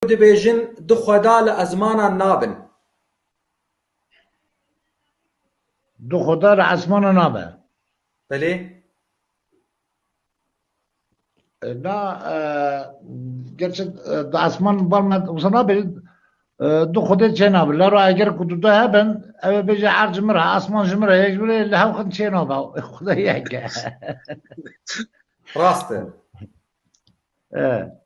dibêjin du xweda li esmanan nabin. Du xweda li esmanan nabe. Belê. Na gerçi di esman balna wisa nabêjin du xwedê çênabe. Lero eger ku du de hebin ew ê bêje erd ji min re esman ji min re yek ji min re li hev xin çênabe xweda yek e. Rast e.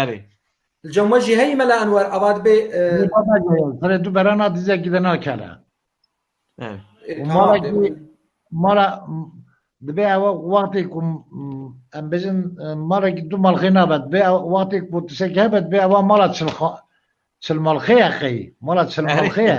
Erê. Li cem we jî heyî Mela Enwer ava dibê. Lê baba gel, xwedê tu berana dizekî de nakele. Erê. Ê, Û tamam, mala dê- ku mala dibê ewa wextê ku em bêjin malekî du malxê nabe dibê ew wextê ku tiştekî hebe dibê ewa mala çil xa- çil malxê ye qey. Mala çil malxê ye.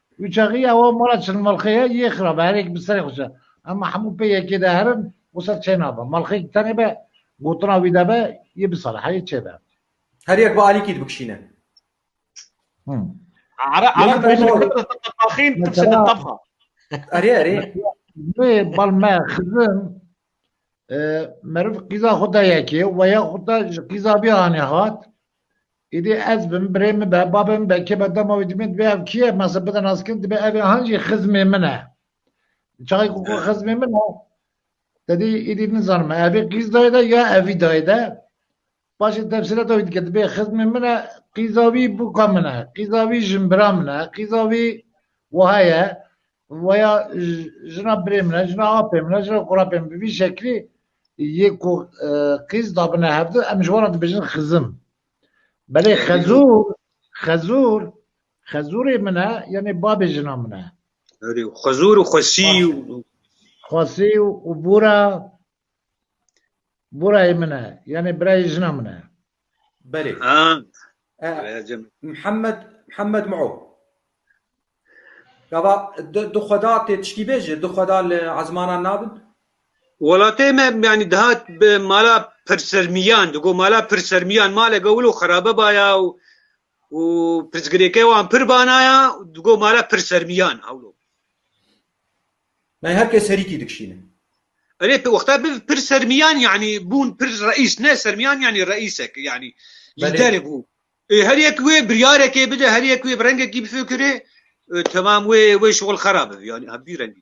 Wî çaxî ya wan mala çilmalxê ye yê xirab e, herêk bi serê xwe çi em hemû pê yekê de her in û ser çê nabe. Malxêk tenê be gotina wî de be yê bisaliha yê çê be. Her yek bi alîkî dibikşîne. Ereb bêjin li kurdê de tepaxîn tibişin li tebxa. Erê erê. Wê bal me xizim meriv qîza xwe de yekê û weya xwe de ji qîza bî anî hat Îdî ez bim, birê min be, bavê min be, kê be, dema wî dimîn dibê ev kî ye? Me sê bide nas kirin, dibê evê han jî xizmê min e. Di çaxê ku ku xizmê min e, te dî îdî nizanim evê qîz dayê de ya evî dayê de. Paşê tefsîlata wî dike, dibê xizmê min e, qîza wî bûka min e, qîza wî jinbira min e, qîza wî wiha ye, weya jina birê min e, jina apê min e, jina qurapê min e, bi vî şeklî, Yê ku qîz dabine hev du em ji wan re dibêjin xizim. Belê xezûr, xezûr, xezûrê min e yanê babê jina min e. Erê û xezûr û xwesî û Xwesî û û bûra bûrayê min e yanê birayê jina min e. Belê. ha E, Mihemed Mihemed Mao. Gava du xweda tê tiştî bê jî, du xweda li ezmanan nabin? Welatê me yanî dihat bi mala pirsermiyan, di got mala pirsermiyan maleke wilo xerabe baya û û pirsgirêke wan pir banaya di got mala pirsermiyan hewlo. Yani her kes herîkî dikişîne. Erê wexta bi pir sermiyan yanî bûn pir reîs ne sermiyan yanî reîsek yanî lîderê bû. Ê her yek wê biryarekê bide, her yek wê bi rengekî bifikirê, temam wê wê şixul xerab bibî yanî hemdî rengî.